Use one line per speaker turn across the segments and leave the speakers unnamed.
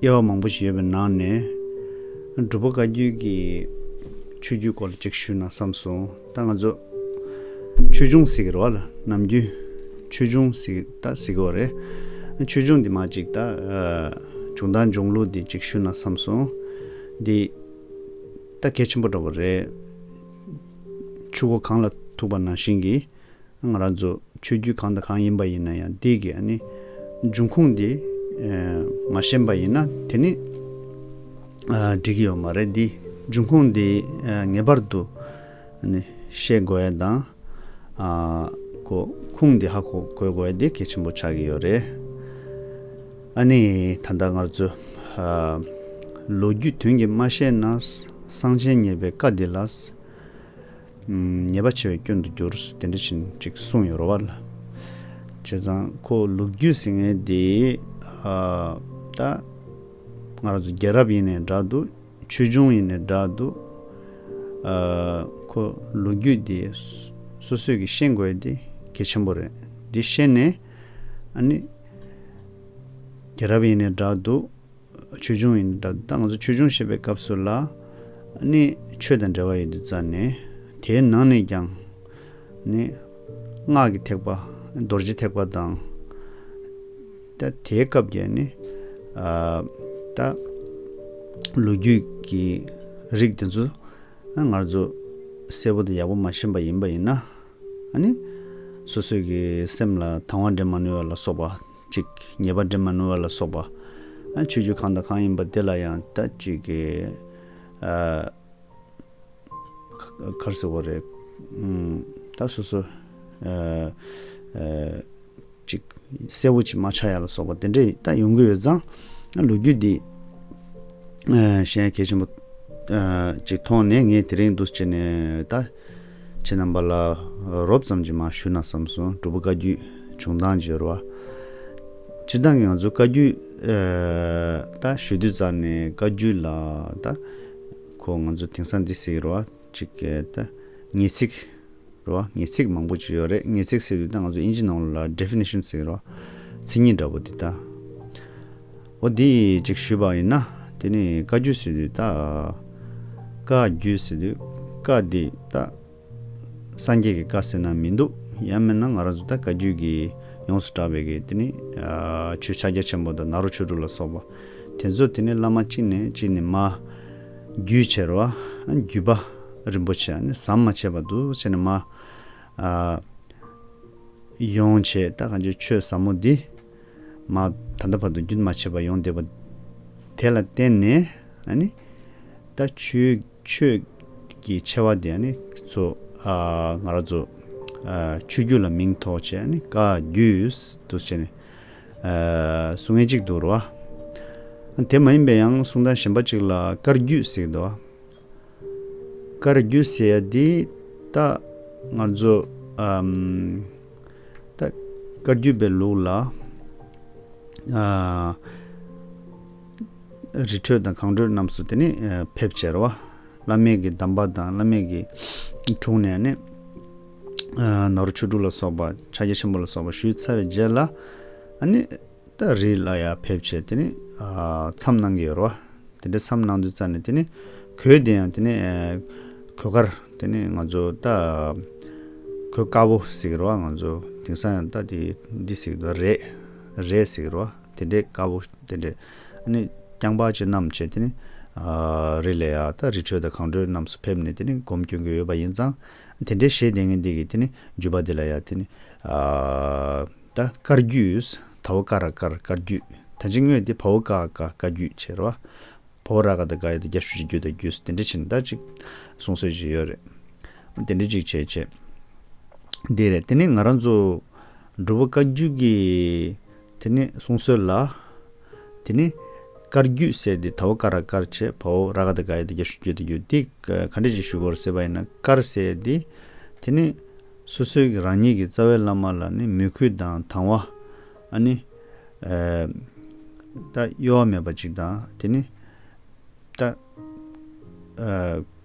དབྱེ་བ་མང་པོ་ཞིག་ཡོད་པའི་ནང་ནས། སྒྲུབ་པ་བཀའ་བརྒྱུད་ཀྱི་ཆོས་བརྒྱུད་སྐོར་ལ་གཅིག་ཞུས་ན་བསམ་སོང། ད་ང་ཚོ་ཆོས་འབྱུང་ཟེར་གི་རེད་བ་ལ་ནམ་རྒྱུན་ཆོས་འབྱུང་ཟེར་གི་རེད་བ། ཆོས་འབྱུང་འདི་མ་གཅིག་ད་བྱུང་ད་འབྱུང་ལུགས་འདི་གཅིག་ཞུས་ན་བསམ་སོང། འདི་ད་གལ་ཆེན་པོ་འདྲ་བ་རེད། ཆུ་སྒོ་གང་ལ་ཐུག་པ་ནང་བཞིན་གྱི། ང་རང་ཚོ་ཆོས་བརྒྱུད་གང་དང་གང་ཡིན་པ་ཡིན་ན་ཡང་འདི་གི་ཨ་ནི་འབྱུང་ཁུངས་འདི་མ་ཤེས་པ་ཡིན་ན་དེ་ནི་འགྲིག་གི་ཡོད་མ་རེད་འདི་འབྱུང་ཁུངས་འདི་ངེས་པར་དུ་ཤེས་དགོས་ཡས་དང་གོ་ཁུངས་འདི་ཧ་གོ་དགོས་ཡས་དེ་གལ་ཆེན་པོ་ཆགས་ཀྱི་ཡོད་རེད། ཨ་ནི་ད་ལྟ་ངར་ཚོ་ལོ་རྒྱུས་དོན་གྱི་མ་ཤེས་ན་གསང་ཆེན་ཉེས་པའི་བཀའ་འདི་ལ། ཉེས་པ་ཆེ་བའི་སྐྱོན་དུ་འགྱུར། དེ་འདྲ་ཕྱིན་ཅིག་གསུང་ཡོད་རོ་བ་ལ། བྱས་ཙང་ཁོ་ལུག་རྒྱུད་ཟིང་ངེ་འདི། ད་ང་རང་ཚོ་རྒྱལ་རབས་ཡིན་ནས་འདྲ་འདུག། ཆོས་འབྱུང་ཡིན་ནས་འདྲ་འདུག། ཁོ་ལུག་རྒྱུད་འདི། སོ་སོས་ཀྱིས་ཤེས་དགོས་འདི་གལ་ཆེན་པོ་རེད། འདི་ཤེས་ནས། ཨ་ནི། རྒྱལ་རབས་ཡིན་ནས་འདྲ་འདུག། ཆོས་འབྱུང་ཡིན་ད་ལྟ་ང་ཚོ་ཆོས་འབྱུང་བཤད་པའི་སྐབས་སུ་ལ་ནི་ཆོས་དང་འབྲེལ་བ་ཡོད་དུ་རྩ་ནས་དེའི་ནང་ནས་ཀྱང་ནི་སྔགས་ཀྱི་ཐེག་པ་རྡོ་རྗེ་ཐེག་པ་དང་ད་དེའི་སྐབས་ཀྱི་ནི་ད་ལོ་རྒྱུས་ཀྱི་རིགས་དེ་ཚོ་ང་ཚོ་གསལ་པོ་དང་ཡག་པོ་མ་ཤེས་པ་ཡིན་པ་ཡིན་ན་ནི་སོ་སོས་ཀྱི་སེམས་ལ་དང་བ་འདྲེན་མ་ནུས་བ་ལ་སོགས་པ་ཅིག། ཉེས་པ་འདྲེན་མ་ནུས་བ་ལ་སོགས་པ། ཆོས་རྒྱུད་གང་དང་གང་ཡིན་པ་དེ་ལ་ཡང་ད་ཅིག། གར་སི་བོ་རེ། ད་སོ་སོ། ཅིག། གསལ་བོ་ཅིག་མ་ཆགས་ཡ་ལ་སོགས་པ་དེ་འདྲས་ད་ཡོང་གི་ཡོད་ཙང། ལོ་རྒྱུས་འདི། གཞན་གལ་ཆེན་པོ། ཅིག་མཐོང་ནས་ངས་དེ་རིང་འདུ་བྱེད་ནས་ད། ཁྱེད་རྣམ་པ་ལ་རོབ་ཙམ་གྱིས་མ་ཞུ་ན་བསམ་སོང་སྒྲུབ་པོ་བཀའ་རྒྱུད་བྱུང་སྟངས་བརྗོད་རོགས། སྤྱིར་བཏང་གི་ང་ཚོ་བཀའ་རྒྱུད་ད་ཞུ་དུས་ཙམ་ནས་བཀའ་རྒྱུད་ལ་ད་ཁོ་ང་ཚོ་དེང་སང་འདི་གསེག་རོགས་གཅིག་ད་ངེས་ཚིག་རོགས་ངེས་ཚིག་མང་པོ་ཅིག་ཡོད་རེད་ངེས་ཚིག་གསེག་དུས་ད་ང་ཚོ་དབྱིན་ཇི་ནང་ལོ་ལ Definition གསེག་རོགས་མཚན་ཉིད་འདྲ་པོ་དེ་ད། འོ་འདི་ཅིག་ཞུས་པ་ཡིན་ན་དེ་ནི་བཀའ་བརྒྱུད་སི་ཏུས་ཏཱ། བཀའ་བརྒྱུད་སི་ཏུས་བཀའ་འདི་ཏཱ། སངས་རྒྱས་ཀྱི་བཀའ་ཟེར་ན་མི་འདུག་ཡང་མིན་ན་ང་རང་ཚོ་ད་བཀའ་བརྒྱུད་ཀྱི་ཡོངས་སུ་གྲགས་པའི་གི་དེ་ནི་ཆོས་ཕྱག་རྒྱ་ཆེན་པོ་དང་ནཱ་རོ་ཆོས་དྲུག་ལ་སོགས་པ་དེ་ཚོ་དེ་ནི་བླ་མ་གཅིག་ནས་གཅིག་ནི་མ། བརྒྱུད་བྱེར་བ། བརྒྱུད་པ། རིན་པོ་ཆེ་ནི་ཟམ་མ་ཆད་པར་འདུ་བྱེད་ནི་མ། ཡོངས་བྱེད་ད་གང་ཆོས་ཆོས་ཟབ་མོ་འདི། མ། ད་ལྟ་བར་དུ་རྒྱུན་མ་ཆད་པར་ཡོང་བསྡད་པ། དེ་ལ་བརྟེན་ནས། ད། ཆོས། ཀྱི་ཆེ་བ་དེ། ཚོ། ང་རོ། ཚོ། ཆོས་བརྒྱུད་ལ་མིང་ཐོགས་བྱས། བཀའ། བརྒྱུད། དུ་བྱས་ནས། སུ་ངེས་གཅིག་ཏུ་རུ། དེ་མ་ཡིན་པའི་ཡང་གསུང་དང་གཞན་པ་ཅིག་ལ་བཀར་བརྒྱུད་ཟེར་གི་འདུག། དཀར་རྒྱུ་ཟེར་ཡ་འདི་ད་ང་ཚོ་ད་དཀར་རྒྱུ་པའི་ལུགས་ལ་རི་ཁྲོད་དང་གངས་ཁྲོད་རྣམས་སུ་དེ་ནི་ཕེབས་བྱས་ར་བ་བླ་མེད་ཀྱི་གདམས་པ་དང་བླ་མེད་ཀྱི་དྲུང་ནས་ནི་ནོར་བུ་ཆོས་དྲུག་ལ་སོགས་པ་ཕྱག་རྒྱ་ཆེན་པོ་ལ་སོགས་པ་ཞུས་ཚར་བའི་རྗེས་ལ་ཨ་ནི། སྟ་རེས་ལ་ཡར་ཕེབས་བྱས་དེ་ནས་མཚམས་གནང་གི་ཡོད་རེད་བ། དེ་འདྲ་མཚམས་གནང་དུས་རྩ་ནས་དེ་ནས་གོས་དེ་ཡང་དེ་ནས་གོས་དཀར་དེ་ནས་ང་ཚོ་སྟ་གོས་དཀར་པོ་ཟེར་གི་རེད་བ་ང་ཚོ་དེང་སང་ཡང་སྟ་དེ་འདི་ཟེར་གི་འདུག་རས་རས་ཟེར་གི་རེད་བ་དེ་འདྲའི་དཀར་པོ་དེ་འདྲས་ཨ་ནི་རྐྱང་པ་ཅན་རྣམས་བྱས་དེ་ནས་རེས་ལ་ཡར་སྟ་རི་ཁྲོད་དང་གངས་ཁྲོད་རྣམས་སུ་ཕེབས་ནས་དེ་ནས་སྒོམ་སྐྱོན་གྱི་ཡོད་པ་ཡིན་ཙང་དེ་འདྲའི་ཞེས་དེ་ངེས་འདི་གི་དེ་ནས་འཇུ་བ་དེ་ལ་ཡར་དེ་ནས་ད་དཀར་རྒྱུས། ད་བོ་ཀ་ར་དཀར་དཀར་རྒྱུས། ད་འཇིག་དངོས་ཏེ་བ་བོ་ཀ་ཨ་ཀ་ཀ་རྒྱུས་བྱེད་ར། བ་བོ་ར་ག་ད་ག་ཡོད་ད་རྒྱ་ཤུ་ཤི་རྒྱུ་ད་རྒྱུས་དེ་འདྲ་བྱེད་ན་ད་ཅིག་གསུང་སྲོལ་ཅིག་ཡོད་རེད། དེ་འདྲ་ཅིག་བྱེད་བྱེད། འདི་རེད་དེ་ནི་ང་རང་ཚོ། འབྲུ་བོ་ཀ་རྒྱུས་ཀྱི། དེ་ནི་གསུང་སྲོལ་ལ། དེ་ནི། དཀར་རྒྱུས་ཟེར་ཏེ་ད་བོ་ཀ་ར་དཀར་བྱེད་བ་བོ་ར་ག་ད་ག་ཡོད་ད་རྒྱ་ཤུ་རྒྱུ་ད་རྒྱུས་དེ་ག་འདྲ་ཅིག་ཞུ་དགོས་ར་ཟེར་བ་ཡིན་ན་དཀར་ཟེར་ཏེ། དེ་ནི། སོ་སོའི་གི་རང་ཉིད་ཀྱི་རྩ་བའི་བླ་མ་ལ་ནི་མོས་གུས་དང་དང་བ། ཨ་ནི། ཏ། གཡོ་བ་མེད་པ་ཅིག་དང་དེ་ནི། ཏ།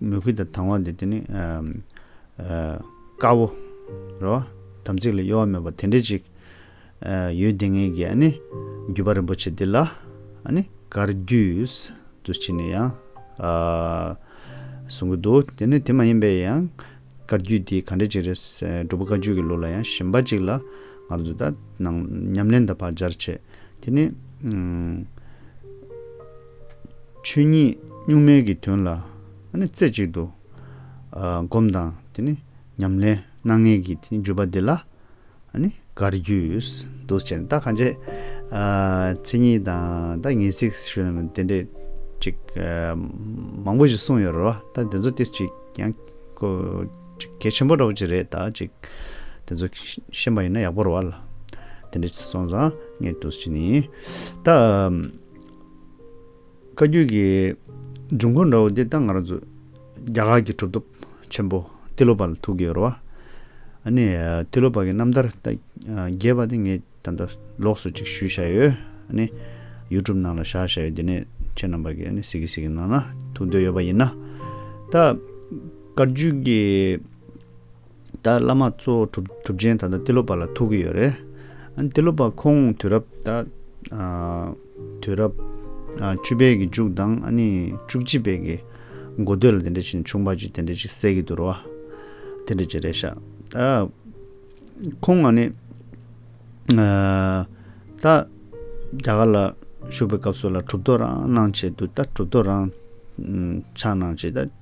མོས་གུས་དང་དང་བ་འདི་དེ་ནི། དཀར་བོ། རོ། དམ་ཚིག་ལ་གཡོ་བ་མེད་པ་དེ་འདྲས་ཅིག། ཡོད་དེ་ངེད་ཀྱིས་རྒྱུད་པ་རིན་པོ་ཆེ་འདི་ལ་གར་རྒྱུས་དུ་བྱས་ནས་ཡང་གསུང་གི་འདུག་དེ་ནི་དེ་མ་ཡིན་པའི་ཡང་གར་རྒྱུས་དེ་ག་འདྲ་ཅིག་རེད་འབྲུག་པ་བཀའ་བརྒྱུད་ཀྱི་ལོ་ལ་ཡང་ཞིམ་པ་ཅིག་ལ་ང་ཚོ་ད་ནང་ཉམས་ལེན་དང་བག་སྦྱར་བྱེད་དེ་ནི་ཆོས་ཉིད་གཉུག་མའི་གི་དོན་ལ་རྩེ་གཅིག་ཏུ་སྒོམ་དང་དེ་ནི་ཉམས་ལེན་སྣ་ལྔས་ཀྱི་དེའི་བརྗོད་པ་འདི་ལ་ནི་གར་རྒྱུས་འདུ་བྱེད་ན་ད་གང་བྱེད། མཚན་ཉིད་དང་ད་ངེས་ཚིག་ཞུ་ན་དེ་འདྲས་ཅིག་མང་པོ་ཞིག་གསུངས་ཡོད་རེད་བ་ད་དེ་ཚོ་དེ་ཅིག་ཡང་གལ་ཆེན་པོ་འདྲ་བོ་ཅིག་རེད་ད་ཅིག་དེ་ཚོ་ཤེས་པ་ཡིན་ན་ཡག་པོ་རེད་བ་ལ་དེ་འདྲས་ཅིག་སོང་ཙང་ངས་འདུ་བྱེད་ནི་ད། བཀའ་བརྒྱུད་ཀྱི་འབྱུང་ཁུངས་འདྲ་བོ་འདི་ལྟ་ང་རང་ཚོ་རྒྱ་གར་གྱི་གྲུབ་ཐོབ་ཆེན་པོ་ཏི་ལོ་པ་ལ་ཐུག་གི་ཡོད་རེད་བ། ཨ་ནི་ཏི་ལོ་པ་གི་རྣམ་ཐར་ད་རྒྱས་པ་དེ་ངས་ད་ལྟ་ལོགས་སུ་ཅིག་ཞུས་བཞག་ཡོད། ཨ་ནི YouTube ནང་ལ་བཞག་བཞག་ཡོད་དེ་ནས་ཁྱེད་རྣམས་པ་གིས་ཨ་ནི་གཟིགས་གི་གཟིགས་གི་ནང་ན་ཐུག་འདོད་ཡོད་པ་ཡིན་ན། ད་བཀའ་བརྒྱུད་ཀྱི། ད་བླ་མ་གཙོ་བོ་གྲུབ་ཆེན་ད་ལྟ་ཏི་ལོ་པ་ལ་ཐུག་གི་ཡོད་རེད། ཨན་ཏི་ལོ་པ་ཁོང་དུས་རབས་ད་དུས་རབས་བཅུ་པའི་གི་མཇུག་དང་ཨ་ནི་བཅུ་གཅིག་པའི་གི་འགོ་སྟོད་ལ་དེ་འདྲ་བྱིན་ཆུང་པ་ཅིག་དེ་འདྲ་ཅིག་བསད་གི་འདུག་རོ། དེ་འདྲ་ཅིག་རེད་ཤག་ད། ཁོང་ཨ་ནི་ད་རྒྱ་གར་ལ་བཞུགས་པའི་སྐབས་སུ་ལ་གྲུབ་ཐོབ་རང་གནང་བྱས་འདུག་ད་གྲུབ་ཐོབ་རང་ཕྱག་གནང་བྱས་ད།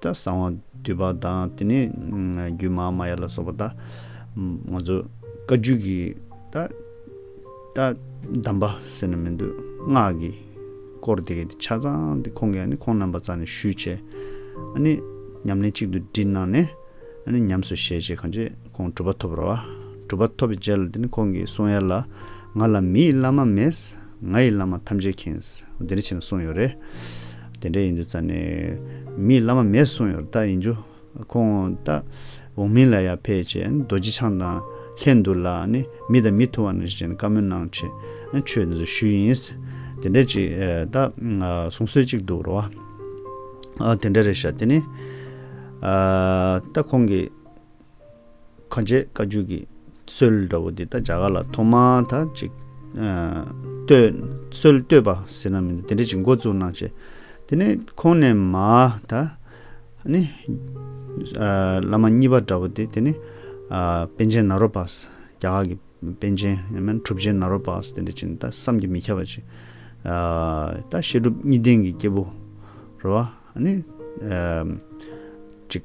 ད་གསང་བ་འདུས་པ་དང་དེ་ནས་རྒྱུད་མ་ཧཱ་མ་ཡ་ལ་སོགས་པ་ད་ང་ཚོ་བཀའ་བརྒྱུད་ཀྱི་ད་ད་གདམས་པ་ཟེར་ན་མི་འདུག་སྔགས་ཀྱི་སྐོར་དེ་གའི་ཆ་ཚང་དེ་ཁོང་གིས་ནི་ཁོང་རྣམ་པ་ཙམ་ནས་ཞུས་བྱས། ཨ་ནི་ཉམས་ལེན་གཅིག་ཏུ་བསྒྲིལ་གནང་ནས་ཨ་ནི་ཉམས་སུ་བཞེས་རྗེས་གང་ཅི་ཁོང་གྲུབ་པ་ཐོབ་རོ། གྲུབ་པ་ཐོབ་པའི་རྗེས་ལ་དེ་ནི་ཁོང་གིས་གསུང་ཡ་ལ་ང་ལ་མི་ཡི་བླ་མ་མེད། ང་ཡི་བླ་མ་ཐམས་ཅད་མཁྱེན། འོ་དེ་འདྲ་བྱས་ནས་གསུངས་ཡོད་རེད། དེ་འདྲ་ཡིན་རྒྱུ་རྩ་ནས། མིའི་བླ་མ་མེད་གསུངས་ཡོད་རྟགས་ཡིན་རྒྱུ། ཁོང་རྟགས་འོག་མིན་ལ་ཡ་ཕེད་ཅེས་རྡོ་རྗེ་འཆང་དང་ལྷན་དུ་ལ་ནི་མི་དང་མི་ཐུ་བ་ན་ཞིག་བྱས་ནས་བཀའ་མོལ་གནང་ཆེད་ཆོས་འདི་ཚོ་ཞུས་ཡིན། དེ་འདྲ་ཅིག་རྟགས་གསུང་སྲོལ་ཅིག་འདུག་རོ། དེ་འདྲ་རེད་ཤག་དེ་ནི། རྟགས་ཁོང་གིས། གང་བྱས་བཀའ་བརྒྱུད་ཀྱི་སྲོལ་འདྲ་བོ་འདི་ད་བྱ་ག་ལ་ཐོག་མ་ད་ཅིག་བསྟོད། སྲོལ་བསྟོད་པ་ཟེར་ན་མི་འདུག་དེ་འདྲ་ཅིག་མགོ་བཙུགས་གནང་བྱས། དེ་ནས་ཁོང་ནས་མ་ད། ནི། བླ་མ་གཉིས་པ་འདྲ་བོ་དེ་དེ་ནི། པན་ཆེན་ནཱ་རོ་པཱ། རྒྱ་གར་གྱི་པན་ཆེན་ཡིན་མིན་གྲུབ་ཆེན་ནཱ་རོ་པཱ་དེ་འདྲ་ཅིག་ད་བསམ་གྱིས་མི་ཁྱབ་པ་ཅིག། ད་བཤད་སྒྲུབ་གཉིས་ལྡན་གྱི་སྐྱེས་བུ། རེ་བ། ནི། ཅིག།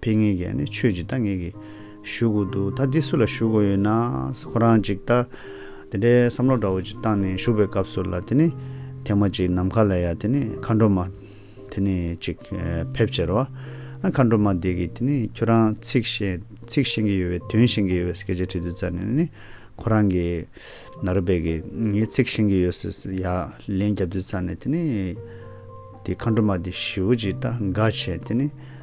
ཕེ་ངེ་གས་ནི་ཆོས་ཀྱི་རྟ་ངེ་གས་ཞུ་གོ་འདུག་ད་འདི་སུ་ལ་ཞུ་གོ་ཡོད་ན་ཁོ་རང་ཅིག་ལྟ། དེ་འདྲའི་བསམ་བློ་འདྲ་བོ་ཅིག་བཏང་ནས་ཞུགས་པའི་སྐབས་སུ་ལ་དེ་ནི་ཐེངས་མ་གཅིག་ནམ་མཁའ་ལ་ཡ་དེ་ནི་མཁའ་འགྲོ་མ་དེ་ནི་ཅིག་ཕེབས་ཕྱིར་རོ། མཁའ་འགྲོ་མ་དེ་གིས་དེ་ནི་ཁྱོད་རང་ཚིག་བཤད་ཚིག་བཤད་ཀྱི་ཡོད་བས་དོན་བཤད་ཀྱི་ཡོད་བས་སྐད་ཆ་དྲིས་དུས་རྩ་ནས་ནི་ཁོ་རང་གི་ན་རོ་པས་གིས་ངས་ཚིག་བཤད་ཀྱི་ཡོད་ཟེར་ཡ་ལན་རྒྱབ་དུས་རྩ་ནས་དེ་ནི་དེ་མཁའ་འགྲོ་མ་དེ་ཞུ་ཅིག་ལྟ་དགའ་བྱས་དེ་ནི།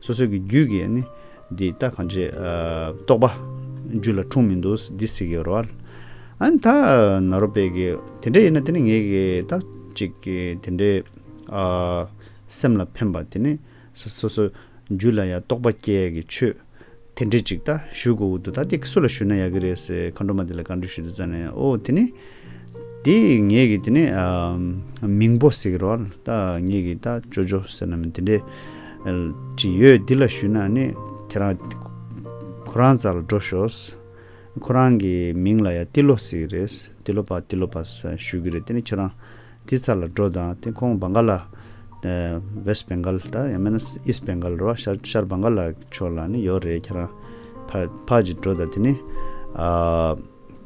སོ་སོ་གི་རྒྱུད་ཀྱི་ནི། འདི་ལྟ་གང་ཅི་རྟོགས་པ། རྒྱུད་ལ་འཁྲུངས་མི་འདུག་འདི་སྲིད་ཀྱི་རོ། ཨན་ད་ན་རོ་དཔལ་གྱི། དེ་འདྲ་ཡིན་ན་དེ་ནི་ངེད་ཀྱི་ད་ཅིག་གི་དེ་འདྲའི། སེམས་ལ་ཕན་པ་དེ་ནི། སོ་སོ་རྒྱུད་ལ་ཡང་རྟོགས་པ་སྐྱེ་གི་ཆོས། དེ་འདྲི་ཅིག་ད་ཞུ་གོ་འུ་ཐུག་ད་དེ་སུ་ལ་ཞུ་ན་ཡག་གི་རེད་ཟེར་མཁའ་འགྲོ་མ་དེ་ལ་བཀའ་འདྲི་ཞུ་དུས་ཙང་ནས་ཨོ་དེ་ནི། དེ་ངེད་ཀྱི་དེ་ནི། མིང་པོ་ཟེར་གི་རོགས་ཨ་ད་ངེད་ཀྱི་ད་ཅོ་ཅོ་ཟེར་ནམ་དེ་འདྲི། དྲི་ཡོད་འདི་ལ་ཞུ་ན་ནི་ཁྱེད་རང། ཁོ་རང་ཙ་ལ་འགྲོ་ཞོགས། ཁོ་རང་གི་མིང་ལ་ཡ་ཏི་ལོ་ཟེར་གི་རེད་ཏི་ལོ་པ་ཏི་ལོ་པ་ཞུ་གི་རེད་དེ་ནི་ཁྱོད་རང། དེའི་ཚ་ལ་འགྲོ་དང་དེ་ཁོང་བང་ག་ལ། West Bengal། དང་ཡང་མིན་ན East Bengal རོ་ཤར་བང་ག་ལ་ཕྱོགས་ལ་ནི་ཡོད་རེད་ཁྱེད་རང། ཕ་ཅིག་འགྲོ་དང་དེ་ནི།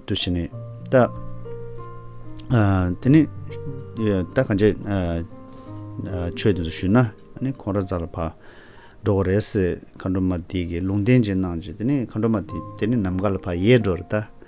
དུ་བྱས་ནས་ལྟ། དེ་ནི། ལྟ་གང་བྱས། ཆོས་དེ་ཚོ་ཞུས་ན་ནི་ཁོང་ར་ཙག་ལ་ཕ། འགྲོ་གོ་རེད་ཟེར་མཁའ་འགྲོ་མ་དེ་གིས་ལུང་བསྟན་བྱས་གནང་བྱས་དེ་ནི་མཁའ་འགྲོ་མ་དེ་ནི་ནམ་མཁའ་ལ་ཕ་ཡས་འགྲོ་རེད་ལྟ།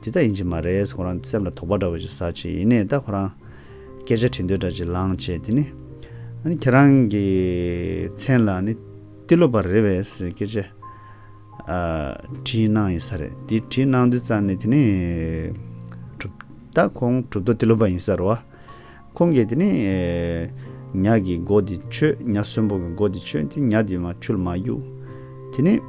འདི་ལྟ་ཡིན་གྱི་མ་རེད་ཟེར་ཁོ་རང་སེམས་ལ་དོགས་པ་འདྲ་བོ་ཞིག་ཟ་བྱས་ཡིན་ནས་ད་ཁོ་རང། སྐད་ཆ་དྲི་འདོད་འདྲ་ཅིག་ལངས་བྱས་དེ་ནི། ཨ་ནི་ཁྱེད་རང་གི་མཚན་ལ་ནི་ཏི་ལོ་པ་རེད་བས་ཟེར་སྐད་ཆ། དྲིས་གནང་ཡིན་ས་རེད་དེ་དྲིས་གནང་དུས་ཙང་ནས་དེ་ནི། གྲུབ། ད་ཁོང་གྲུབ་ཐོབ་ཏི་ལོ་པ་ཡིན་ས་རུ། ཁོང་གིས་དེ་ནི། ཉག་གི་མགོ་འདི་ཆོད། ཉག་གསོན་པོ་གི་མགོ་འདི་ཆོད་དེ་ཉག་འདི་མ་འཁྱུད་མ་གཡུག། དེ་ནི།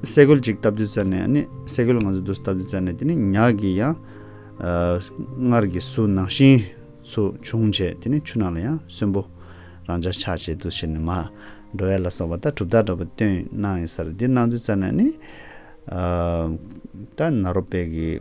སེ་གོལ་གཅིག་བཏབ་དུས་བཙལ་ནས་ནི། སེ་གོལ་ང་ཚོས་བསྡུ་སྟབས་བཙལ་ནས་དེ་ནི་ཉག་གི་ཡང། སྔར་གྱི་སུ་ནང་བཞིན། སུ་བྱུང་བྱས་དེ་ནི་ཆུ་ནང་ལ་ཡང་གསོན་པོ། རང་ཅག་ཕྱག་བྱེད་དུ་ཕྱིར་ནི་མ། འགྲོ་བས་ལ་སོགས་པ་ལྟར་གྲུབ་རྟགས་འདྲ་པོ་སྟོན། གནང་ཡིན་སར་འདི་གནང་དུས་བཙལ་ནས་ནི། ད་ནཱ་རོ་པས་ཀྱི།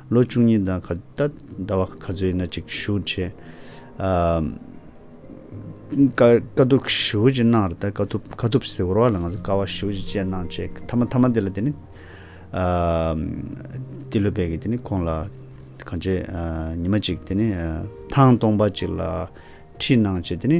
ལོ་བཅུ་གཉིས་དང་ག་ད་ཟླ་བ་ག་ཚོད་ཡིན་ན་ཅིག་ཞུ་བྱས། དཀའ་སྡུག་ཞུ་བྱས་གནང་ར་ད་དཀའ་ཐུབ་དཀའ་ཐུབ་ཟེར་བ་ལ་ང་ཚོ་དཀའ་བ་ཞུ་བྱས་བྱས་གནང་བྱས་མཐའ་མ་མཐའ་མ་དེ་ལ་དེ་ནི། འདི་ལོ་བས་ཀྱི་དེ་ནི་ཁོང་ལ་གང་བྱས་ཉི་མ་ཅིག་དེ་ནི་ཐང་སྟོང་པ་ཅིག་ལ་ཁྲིད་གནང་བྱས་དེ་ནི།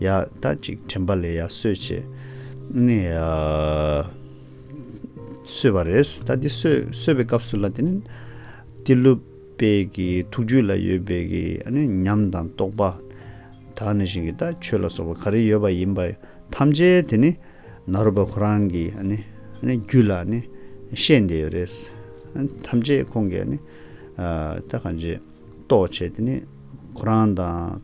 ཡ། ད་ཅིག་དྲན་པ་ལས་ཡ་སོད་བྱས། ནས། སོད་པ་རེད། ད་འདི་སོད་པའི་སྐབས་སུ་ལ་དེ་ནི། ཏི་ལུ་པའི་གི་ཐུགས་རྒྱུད་ལ་ཡོད་པའི་གི་ནི་ཉམས་དང་རྟོགས་པ། དག་ནས་བཞིན་གྱི་ད་ཆོས་ལ་སོགས་པ་ག་རེ་ཡོད་པ་ཡིན་པ་ཐམས་ཅད་དེ་ནི། ནཱ་རོ་པ་ཁོ་རང་གི་ནི་རྒྱུད་ལ་ནི་བཤད་འདི་ཡོད་རེད། ཐམས་ཅད་ཁོང་གི་ནི། ད་གང་ཅི་རྟོགས་བྱས་དེ་ནི་ཁོ་རང་དང།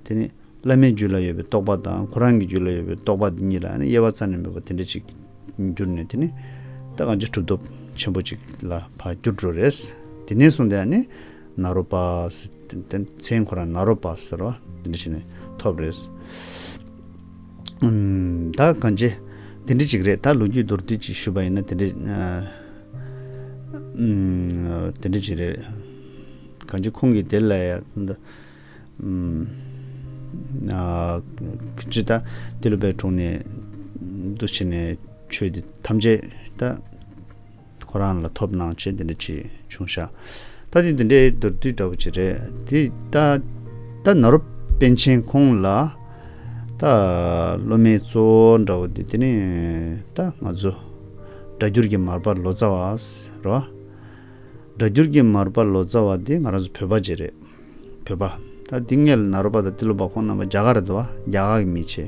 དེ་ནི་བླ་མའི་རྒྱུད་ལ་ཡོད་པའི་རྟོག་པ་དང་ཁོ་རང་གི་རྒྱུད་ལ་ཡོད་པའི་རྟོག་པ་འདི་གཉིས་ལ་དབྱེ་བ་རྩ་ནས་མེད་པ་དེ་འདྲ་ཅིག་གྱུར་ནས་དེ་ནི་ད་གང་ཅི་གྲུབ་སྟོབས་ཆེན་པོ་ཅིག་ལ་བར་འགྱུར་འགྲོ་རེད། དེ་ནས་བཟུང་སྟེ་ནཱ་རོ་པ། མཚན་ཁོ་རང་ནཱ་རོ་པ་ཟེར་བ་དེ་འདྲ་ཞིག་ནས་ཐོབ་རེད། ད་གང་ཅི་དེ་འདྲ་ཅིག་རེད་ད་ལོ་རྒྱུས་མདོར་བསྡུས་ཅིག་ཞུས་པ་ཡིན་ན་དེ་འདྲ་ཅིག་རེད། གང་ཅི་ཁོང་གིས་དེ་ལ་ཡང། ཅི་ལྟ། དེ་ལུས་པའི་དྲུང་ནས་འདུ་བྱས་ནས་ཆོས་འདི་ཐམས་ཅད་ལྟ། ཁོ་རང་ལ་ཐོབ་སྣང་ཆེ་འདི་འདྲ་ཅི་བྱུང་ཤ། ལྟ་དེ་འདི་འདྲའི་མདོར་བསྡུས་འདྲ་བོ་ཅི་རེད། དེ་ལྟ། ན་རོ་པན་ཆེན་ཁོང་ལ་ལྟ། སློབ་མའི་གཙོ་བོ་འདྲ་བོ་འདི་དེ་ནས་ལྟ། ང་ཚོ་སྒྲ་འགྱུར་གྱི་མར་པ་ལོ་ཙཱ་བ་རེད། སྒྲ་འགྱུར་གྱི་མར་པ་ལོ་ཙཱ་བ་འདི་ང་རང་ཚོ་བོད་པ་ཅིག་རེད། བོད་པ། ད་དེང་གནས་ལ་ནཱ་རོ་པ་དང་ཏི་ལོ་པ་ཁོང་རྣམ་པ་རྒྱ་གར་རེད་དོ། རྒྱ་གར་གྱི་མི་ཆེ།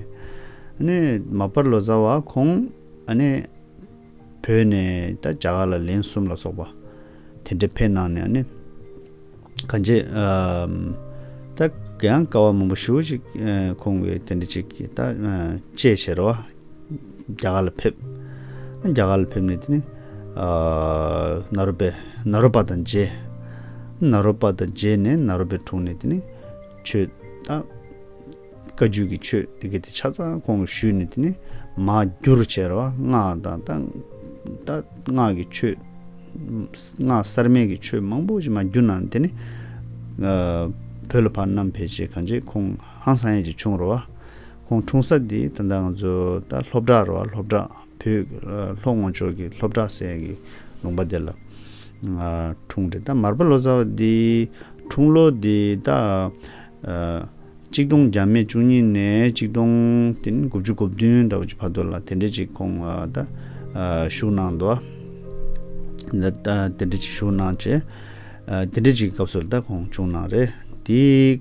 ནི། མ་པར་ལོ་ཙཱ་བ་ཁོང། ནི། བོད་ནས་ད་རྒྱ་གར་ལ་ལན་གསུམ་ལ་སོགས་པ། དེ་འདྲ་ཕེབས་གནང་ནས་ནི། གང་ཅི། ད། གཡང་ཀ་བ་མང་པོ་ཞུ་ཅིག་ཁོང་གི་དེ་འདྲ་ཅིག་ད་དཔྱད་བྱེད་རོ། རྒྱ་གར་ལ་ཕེབས། རྒྱ་གར་ལ་ཕེབས་ནས་དེ་ནས་ནཱ་རོ་པའི་ནཱ་རོ་པ་དང་མཇལ། ནཱ་རོ་པ་དང་མཇལ་ནས་ནཱ་རོ་པའི་དྲུང་ནས་དེ་ནས་ཆོས་བཏགས། བཀའ་བརྒྱུད་ཀྱི་ཆོས་དེ་གའི་དེ་ཆ་ཚང་ཁོང་གིས་ཞུས་ནས་དེ་ནས་མ་བསྒྱུར་བྱས་ར་བ་སྔགས་དང་རྟགས་སྔགས་ཀྱི་ཆོས། སྔགས་གསར་མའི་གི་ཆོས་མང་པོ་ཞིག་མ་བསྒྱུར་ནའང་དེ་ནས། བོད་ལ་ཕར་རྣམ་འཕེལ་བྱེད་གང་ཆེ་ཁོང་ཧང་སང་ཡས་ཀྱི་ཆུང་ར་བ། ཁོང་འཁྲུངས་ས་དེ་ད་ལྟ་ང་ཚོ་ད་ལྷོ་བྲག་ར་བ་ལྷོ་བྲག་བོད་ལྷོ་ངོ་ཕྱོགས་ཀྱི་ལྷོ་བྲག་སའི་གི་ལུང་པ་དེ་ལ་འཁྲུངས་ཏེ་ད་མར་པ་ལོ་ཙཱ་བ་དེ་འཁྲུངས་ལོ་དེ་ད་གཅིག་སྟོང་བརྒྱ་མེད་བཅུ་གཉིས་ནས་གཅིག་སྟོང་དེ་ནི་དགུ་བཅུ་དགུ་བདུན་ད་བ་ཅིག་བར་དོ་ལ་དེ་འདྲེ་ཅིག་ཁོང་ད་བཞུགས་གནང་འདུག་ད་དེ་འདྲེ་ཅིག་བཞུགས་གནང་བྱས་དེ་འདྲེ་ཅིག་གི་སྐབས་སུ་ད་ཁོང་བྱུང་གནང་རེད་དེ།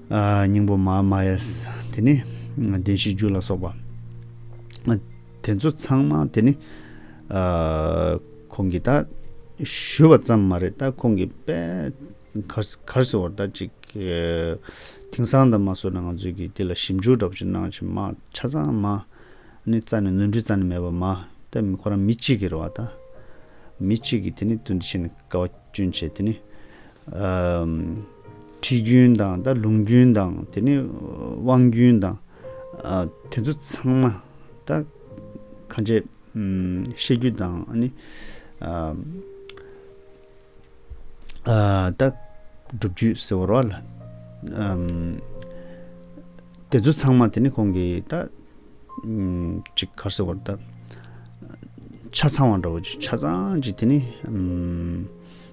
སྙིང་པོ་མ་མ་ཡས། དེ་ནི་བདེན་བཞིའི་རྒྱུད་ལ་སོགས་པ། དེ་ཚོ་ཚང་མ་དེ་ནི། ཁོང་གིས་ད་ཞུས་པ་ཙམ་མ་རེད་ད་ཁོང་གིས་དཔེ། གར་སོ་བར་ད་ཅིག། དེང་སང་ད་མ་བཟོས་ན་ང་ཚོས་ཀྱིས་དེ་ལ་ཞིབ་འཇུག་འདྲ་པོ་ཅིག་གནང་ཕྱིན་མ་ཆ་ཚང་མ། ནི་རྩ་ནས་ནོར་འཁྲུལ་རྩ་ནས་མེད་པ་མ། ད་མི་ཁོ་རང་མི་གཅིག་གིས་རེད་བ་ད། མི་གཅིག་གིས་དེ་ནི་དོན་འདི་ཕྱིར་ནས་དཀའ་བ་སྐྱོན་ཆེ་དེ་ནི། ཁྲིད་རྒྱུན་དང་ད་ལུང་རྒྱུན་དང་དེ་ནས་དབང་རྒྱུན་དང། དེ་ཚོ་ཚང་མ་ད་ཁ་ཆེ་བཤད་རྒྱུ་དང་ནི་ད་སྒྲུབ་རྒྱུད་ཟེར་བ་རོ། དེ་ཚོ་ཚང་མ་དེ་ནི་ཁོང་གི་ད་ཅིག་ག་ཟེར་བ་རོ་ད་ཆ་ཚང་བ་འདྲ་བོ་ཆ་ཚང་ཅིག་དེ་ནི།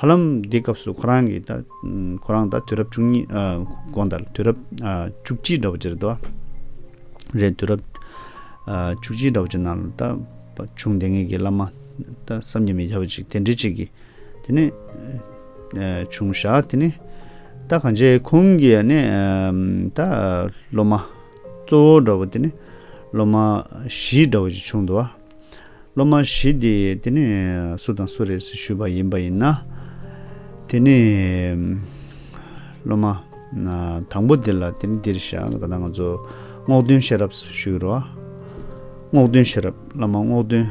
ཧ་ལམ་དེའི་སྐབས་སུ་ཁོ་རང་གིས་ད། ཁོ་རང་ད་དུས་རབས་བཅུ་གཉིས། གོང་ད་དུས་རབས་བཅུ་གཅིག་འདྲ་པོ་ཅི་རེད་དོ། རེད་དུས་རབས། བཅུ་གཅིག་འདྲ་པོ་ཅི་ནང་ད། ཆུང་དེ་ངེད་ཀྱི་བླ་མ། ད་བསམ་གྱིས་མི་ཁྱབ་པ་ཅིག་དེ་འདྲི་ཅིག་གིས། དེ་ནས། བྱུང་ཞག་དེ་ནས། ད་གང་ཆེ་ཁོང་གི་ཡ་ནས། ད། སློབ་མ། གཙོ་བོ་འདྲ་པོ་དེ་ནས། སློབ་མ། བཞི་འདྲ་པོ་ཅིག་བྱུང་འདུག་བ། སློབ་མ་བཞི་དེ་དེ་ནས་སུ་དང་སུ་རེད་ཞུས་པ་ཡིན་པ་ཡིན་ན། དེ་ནས་སློབ་མ་དང་པོ་དེ་ལ་དེ་ནི་འདིར་བཞག་ད་ལྟ་ང་ཚོ་རྔོག་སྟོན་ཤེས་རབ་ཞུས་རོགས། རྔོག་སྟོན་ཤེས་རབ་བླ་མ་རྔོག་སྟོན་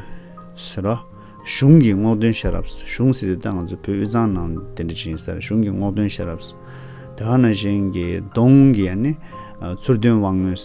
ཟེར་རོགས། གཞུང་གི་རྔོག་སྟོན་ཤེས་རབ་གཞུང་ཟེར་དེ་ད་ལྟ་ང་ཚོ་བོད་དབུས་གཙང་ནང་དེ་འདྲ་བྱིན་ཟེར་གཞུང་གི་རྔོག་སྟོན་ཤེས་རབ། དེ་ཧ་ན་གཞན་གྱི་གདོང་གི་ཡ་ནི་ཚུར་སྟོན་དབང་མོས།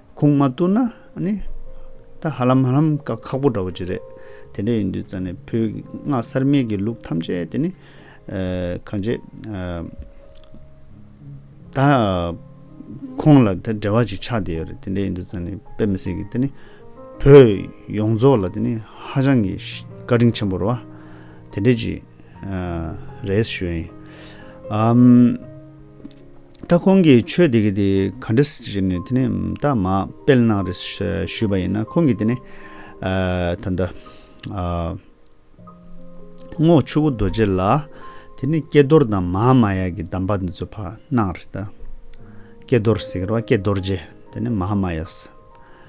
ཁུངས་མ་བཏུས་ན་ནི། ད་ཧ་ལམ་ཧ་ལམ་ཀ་ཁག་པོ་འདྲ་བོ་ཅིག་རེད། དེ་འདྲ་ཡིན་དུས་ཙཱ་ནས་བོད་སྔགས་གསར་རྨེད་ཀྱི་ལུགས་ཐམས་ཅད་དེ་ནི། གང་བྱེད། ད་ཁོང་ལ་ད་འབྲེལ་བ་ཅིག་ཆགས་བསྡད་ཡོད་རེད། དེ་འདྲ་ཡིན་དུས་ཙཱ་ནས་དཔེ་མི་སྲིད་ཀི་དེ་ནི། བོད་ཡོངས་རྫོགས་ལ་དེ་ནི་ཧ་ཅང་གི་བཀའ་དྲིན་ཆེན་པོར་བ། དེ་འདྲ་ཅིག་རེད་ཞུ་ཡིན། ད་ཁོང་གིས་ཆོས་དེ་ག་དེ་ག་འདྲ་ཟེར་གྱི་རེད་ནས་དེ་ནས་ད་མ་སྤེལ་གནང་རེད་ཞུས་པ་ཡིན་ན་ཁོང་གིས་དེ་ནས་ད་ལྟ་རྔོག་ཆུ་བོ་རྡོ་རྗེ་ལ་དེ་ནས་ཀྱེ་རྡོར་དང་མ་མ་ཡ་གི་གདམས་པ་འདི་ཚོ་ཕར་གནང་རེད་ད་ཀྱེ་རྡོར་ཟེར་གི་རེད་བ་ཀྱེ་རྡོར་རྗེ་དེ་ནས་མ་མ་ཡ་ཟེར།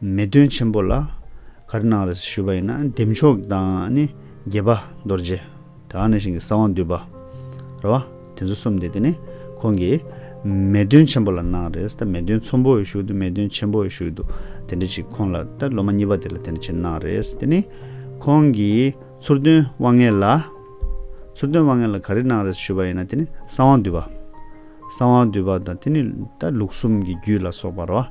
མེ་སྟོན་ཆེན་པོ་ལ་གར་གནང་རེ་ཞུས་པ་ཡིན་ན་འདེམས་མཆོག་དང་ནི་དགྱེས་པ་རྡོ་རྗེ་དེ་ཡང་ནི་ཞིང་གི་གསང་བ་འདུས་པ་རེད་བ་དེ་ཚོ་གསུམ་དེ་དེ་ནི་ཁོང་གིས་མེ་སྟོན་ཆེན་པོ་ལ་གནང་རེ་ད་མེ་སྟོན་ཚོམ་པོ་ཡི་ཞུགས་འདུག་མེ་སྟོན་ཆེན་པོ་ཡི་ཞུགས་འདུག་དེ་འདྲ་ཅིག་ཁོང་ལ་ད་ལོ་མ་གཉིས་པ་དེ་ལ་དེ་འདྲ་ཅིག་གནང་རེ་དེ་ནི་ཁོང་གིས་ཚུར་སྟོན་དབང་ངེ་ལ་ཚུར་སྟོན་དབང་ངེ་ལ་ག་རེ་གནང་རེ་ཞུས་པ་ཡིན་ན་དེ་ནི་གསང་བ་འདུས་པ་གསང་བ་འདུས་པ་དང་དེ་ནི་ད་ལུགས་གསུམ་གྱི་རྒྱུད་ལ་སོགས་པ་རེད་བ་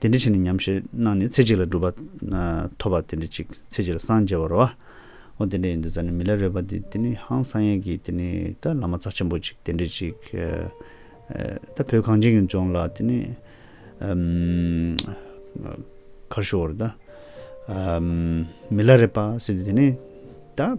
དེ་འདྲི་བྱས་ནས་ཉམས་བཞེས་གནང་ནས་ཚེ་གཅིག་ལ་སྒྲུབ་པ། ཐོབ་པ་དེ་འདྲི་གཅིག་ཚེ་གཅིག་ལ་སངས་རྒྱ་བར་རོ། ཨོ་དེ་འདྲ་ཡིན་དུ་ཟ་ནས་མི་ལ་རོལ་པ་འདི་དེ་ནི་ཧང་སངས་ཡས་ཀྱིས་དེ་ནི་ད་བླ་མ་རྩ་ཆེན་པོ་གཅིག་དེ་འདྲི་གཅིག། ད་བོད་གངས་ཅན་གྱི་ལྗོངས་ལ་དེ་ནི། ཁར་ཤོར་བར་ད། མི་ལ་རེད་པ་ཟེར་དུས་དེ་ནི་ད།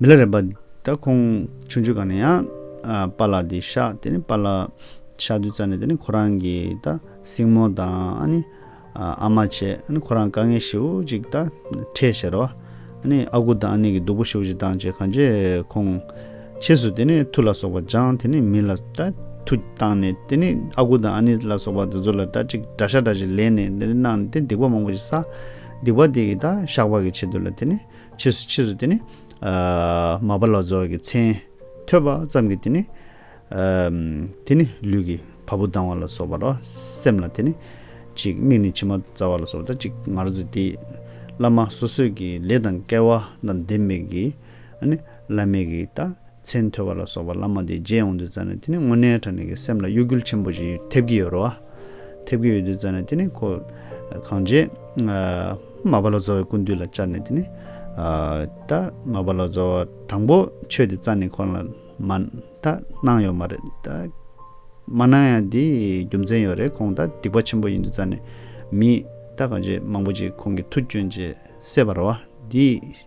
མི་ལ་རས་པ། ད་ཁོང་ཆུང་ཆུང་ག་ནས་ཡང་པཱ་ལགས་དེ་ཤག་དེ་ནས་པཱ་ལགས་ཤག་དུས་ཙམ་ནས་དེ་ནས་ཁོ་རང་གི་ད་སྲིང་མོ་དང་ཨ་ནི་ཨ་མ་བྱས་ཨ་ནི་ཁོ་རང་དཀའ་ངལ་ཞེ་བོ་ཅིག་ད་འཕྲད་ཤེས་རོ། ཨ་ནི་ཨ་ཁུ་དང་ཨ་ནེ་གི་སྡུག་པོ་ཞེ་བོ་ཅིག་བཏང་རྗེས་གང་རྗེས་ཁོང་ཕྱིས་སུ་དེ་ནས་མཐུ་ལ་སོགས་པ་སྦྱངས་དེ་ནས་མི་ལ་ད་མཐུ་བཏང་ནས་དེ་ནས་ཨ་ཁུ་དང་ཨ་ནེ་ལ་སོགས་པ་དེ་ཚོ་ལ་ད་ཅིག་དགྲ་ཤ་དྲག་ཅིག་ལེན་ནས་དེ་ནས་གནང་ནས་དེ་ནས་སྡིག་པ་མང་པོ་ཞིག་བསགས། སྡིག་པ་དེ་ཡི་དག་བཤགས་བག་གི་ཆེད་དུ་ལ་དེ་ནི་ཕྱིས་སུ་ཕྱིས་སུ་དེ་ནི། མ་བ་ལ་རྫོགས་ཀྱི་མཚན། ཐོས་པ་ཙམ་གྱིས་དེ་ནི། དེ་ནི་ལུས་ཀྱི་བ་སྤུ་ལྡང་བ་ལ་སོགས་པ་རོ། སེམས་ལ་དེ་ནི། གཅིག་མིག་ནི་མཆི་མ་བཙའ་བ་ལ་སོགས་པ་དང་གཅིག་ངར་འཛུལ་ཏེ། བླ་མ་སོ་སོས་ཀྱི་ལས་དང་སྐལ་བ་དང་ལྡན་མེད་ཀྱི། བླ་མེད་ཀྱི་དག། ཚེ་མཐོ་བ་ལ་སོགས་པ་བླ་མ་དེ་རྗེས་ཡོང་དུས་རྩ་ནས་དེ་ནི་དངོས་གནས་དྲ་གནས་ཀྱི་སེམས་ལ་གཡོ་སྒྱུལ་ཆེན་པོ་ཞིག་ཐེབས་ཀྱི་ཡོད་རོ། ཐེབས་ཀྱི་ཡོད་དུས་རྩ་ནས་དེ་ནི་ཁོ། གང་རྗེས། མ་བ་ལ་རྫོ་བའི་ཀུན་བཏུས་ལ་བཅར་ནས་དེ་ནི། ད། མ་བ་ལ་རྫོ་བ་དང་པོ་ཆོས་དེ་རྩ་ནས་ཁོ་རང་ལ། མ། ད། གནང་ཡོད་མ་རེད། ད། མ་གནང་ཡང་དེ། རྒྱུ་མཚན་ཡོད་རེད་ཁོང་ད་སྡིག་པ་ཆེན་པོ་ཡིན་དུས་རྩ་ནས། མི། ད་གང་རྗེས་མང་པོ་ཅིག་ཁོང་གི་མཐུ་བསྐྱོན་རྗེས་སད་པ་རོ། དེ།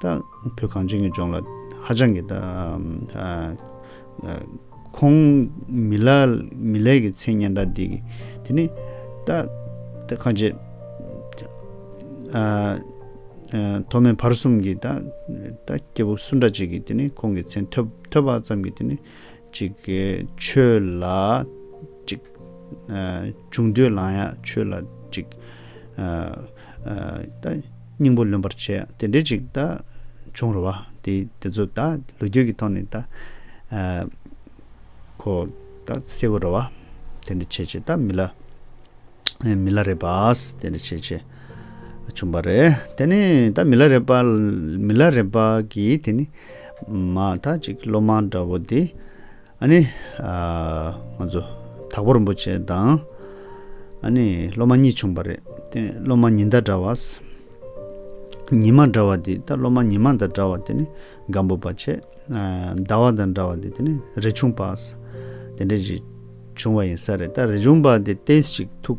དང། བོད་གངས་ཅན་གྱི་ལྗོངས་ལ་ཧ་ཅང་གི་ཁོང་མི་ལ་མི་ལས་ཀྱི་མཚན་སྙན་གྲགས་འདི་གི་དེ་ནི་ད་ད་ཁ་ཆེ། མཐོ་དམན་བར་གསུམ་གྱི་ད་ད་སྐྱེ་བོ་སུ་འདྲ་ཅིག་གི་དེ་ནི་ཁོང་གི་མཚན་ཐོས་པ་ཙམ་གྱི་དེ་ནི་གཅིག་གི་ཆོས་ལ་གཅིག། བྱུང་འདོད་ལངས་ཡང་ཆོས་ལ་གཅིག། ད་སྙིང་པོ་ལོན་པར་བྱེད་དེ་འདྲའི་གཅིག། བྱུང་རུ་བ་དེ་ཚོ་ད་ལོ་རྒྱུས་ཀྱི་ཐོག་ནས་ད། ཁོ་ད་གསལ་བོ་རུ་བ་དེ་འདྲ་བྱེད་བྱེད་ད་མི་ལ། མི་ལ་རེ་བ་དེ་འདྲ་བྱེད་བྱེད། བྱུང་བ་རེད། དེ་ནི་ད་མི་ལ་རས་པ། མི་ལ་རས་པ་གིས་དེ་ནི། མ་ད་ཅིག་སློབ་མ་འདྲ་བོ་དེ། ཨ་ནི། ང་ཚོ། དྭགས་པོ་རིན་པོ་ཆེ་དང། ཨ་ནི་སློབ་མ་གཉིས་བྱུང་བ་རེད། དེ་སློབ་མ་ཉི་ཟླ་འདྲ་བ། ཉི་མ་འདྲ་བ་དེ་ད་སློབ་མ་ཉི་མ་དང་འདྲ་བ་དེ་ནི། སྒམ་པོ་པ་ཆེ། ཟླ་བ་དང་འདྲ་བ་དེ་དེ་ནི་རས་ཆུང་པ། དེ་འདྲ་ཞིག་བྱུང་བ་ཡིན་ས་རེད། ད་རས་ཆུང་པ་དེ་ཏེས་ཅིག་ཐུག།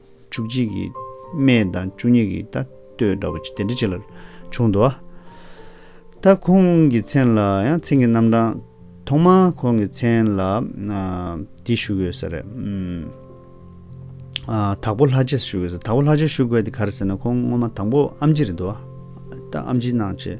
བཅུ་གཅིག་གི་སྨད་དང་བཅུ་གཉིས་ཀྱི་ད་ལྟོས་འདྲ་བ་དེ་འདྲ་ཅིག་ལ་བྱུང་འདུག་ད་ཁོང་གི་མཚན་ལ་ཡང་མཚན་གྱི་རྣམ་གྲངས་ཐོག་མ་ཁོང་གི་མཚན་ལ་འདི་བཞུགས་ཡོད་ས་རེད། དྭགས་པོ་ལྷ་རྗེ་བཞུགས་ཡོད་ས་དྭགས་པོ་ལྷ་རྗེ་བཞུགས་དགོས་དེ་ག་རེ་ཟེར་ན་ཁོང་སྔོན་མ་དང་པོ་ཨམ་ཆི་རེད་འདུག་ད་ཨམ་ཆི་ནང་ཆེ།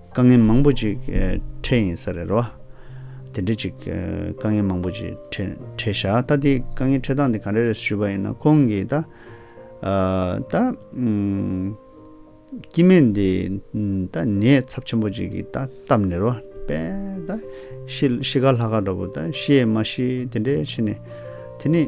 དཀའ་ངལ་མང་པོ་ཅིག་འཕྲད་ཡིན་ས་རེད་རོ། དེ་འདྲ་ཅིག་དཀའ་ངལ་མང་པོ་ཅིག་འཕྲད་ཤག་ད་དེ་དཀའ་ངལ་འཕྲད་སྟངས་དེ་ག་རེ་རེད་ཞུས་པ་ཡིན་ན་ཁོང་གིས་ད། ད། སྐྱིད་མེད་འདི་ད་ནད་ཚབས་ཆེན་པོ་ཅིག་གིས་ད་བཏབ་ནས་རོ། དཔེ་ད་ཤི་ཤི་ཁ་ལྷ་ཁ་འདྲ་པོ་ད་ཤི་ཡས་མ་ཤི་དེ་འདྲས་ཕྱིན་ནས་དེ་ནས།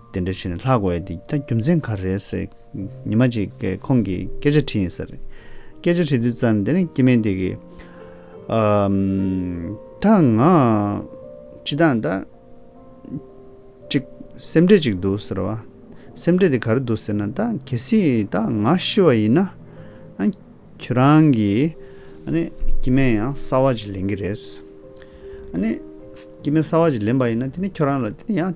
དེ་འདྲ་བྱས་ནས་ལྷག་དགོས་ཏེ་ད་རྒྱུ་མཚན་ག་རེད་ཟེར། ཉི་མ་གཅིག་གིས་ཁོང་གིས་སྐད་ཆ་དྲིས་ཡིན་ཟེར། སྐད་ཆ་དྲིས་དུས་ཙམ་ནས་དེ་ནས་སྐྱེས་དམན་དེ་གིས། ད་ང། ཅི་སྟངས་ད། ཅིག། སེམས་ཁྲལ་ཅིག་འདུག་ཟེར་བ། སེམས་ཁྲལ་དེ་ག་རེ་འདུག་ཟེར་ན་ད་གལ་སྲིད་ད་ང་ཤི་བ་ཡིན་ན། ཁྱོད་རང་གིས། སྐྱེས་དམན་ཡང་གསར་བ་ཅིག་ལེན་གི་རེད། སྐྱེས་དམན་གསར་བ་ཅིག་ལེན་པ་ཡིན་ན་དེ་ནས་ཁྱོད་རང་ལ་དེ་ནས་ཡང།